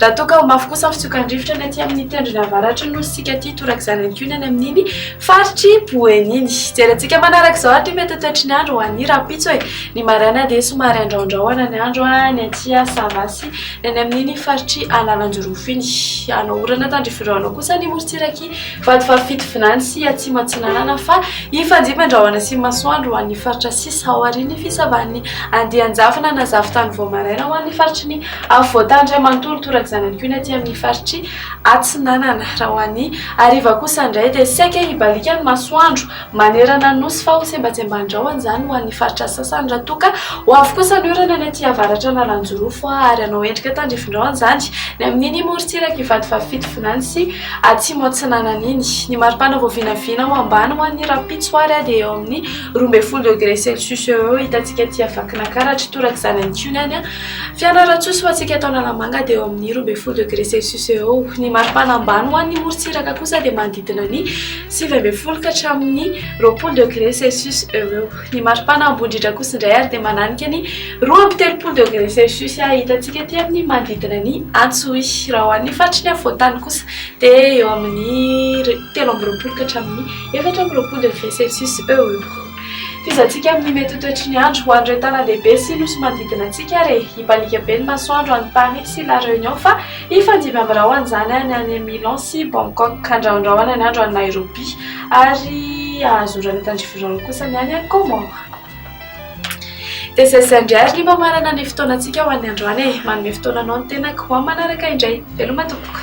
Raha toa ka ho mafy kosa ny fitsokan'ny rivotra ny aty amin'ny tendrony avaratry ny nosintsika aty torak'izany ihany koa ny any amin'iny faritr'i Boeny iny. Jerentsika manaraka izao ary ny mety ho toetry ny andro ho an'ny rahampitso e. Ny maraina dia somary andraondraona ny andro any aty Savasy, ny any amin'iny faritr'i Analanjirofo iny. Hanao orana tandrify rahona kosa ny morontsirak'i Vatovavy Fitovinany sy Atsimo Atsinanana fa hifandimby an-drahona sy ny masoandro ho an'ny faritra sisa aorian'ny fisavan'ny andian-javona na zavon-tany vao maraina ho an'ny faritry ny Avy voatany iray manontolo toraka izany ihany koa ny aty amin'ny faritry Atsinanana. Raha ho an'ny hariva kosa indray dia saika hibaliaka ny masoandro manerana ny Nosy fa ho sembantsemban-drahona izany ho an'ny faritra sasany raha toa ka ho avy kosa ny orana ny aty avaratra Analanjirofo ary hanao endrika tandrifindraona izany ny amin'iny morontsirak'i Ivatovavy-Fitovinany sy Atsimo Atsinanana iny. Ny maripana vao vinavina ho ambany ho an'ny rahampitso ary dia eo amin'ny roa ambin'ny folo degre celcius eo ho eo hitantsika aty Vakinankaratra. Toraka izany ihany koa ny any Fianarantsoa sy ho antsika eto Analamanga dia eo amin'ny roa ambin'ny folo degré celcius eo ho eo. Ny maripana ambany ho an'ny morontsiraka kosa dia manodidina ny sivy ambin'ny folo ka hatramin'ny roapolo degré celcius eo ho eo. Ny maripana Ambondritra kosa indray ary dia mananika ny roa amby telopolo degré celcius hitantsika ety amin'ny manodidina ny Antsohihy. Raha ho an'ny faritry ny afovoan-tany kosa dia eo amin'ny telo amby roapolo ka hatramin'ny efatra amby roapolo degré celcius eo ho eo. F'izatsika amin'ny mety ho toetry ny andro ho an'ireo tanandehibe sy nosy manodidina antsika ary hibaliaka be ny masoandro any Paris sy La Réunion fa hifandimby amin'ny rahona izany any any Milan sy Bangkok handrahondrahona ny andro any Nairobi ary hahazorana tandrify rahona kosa ny any Comores. Dia izay izay indray ary ny mamarana ny fotoanantsika ho an'ny androany e! Manome fotoana anao ny tenako, ho amin'ny manaraka indray! Veloma tompoko!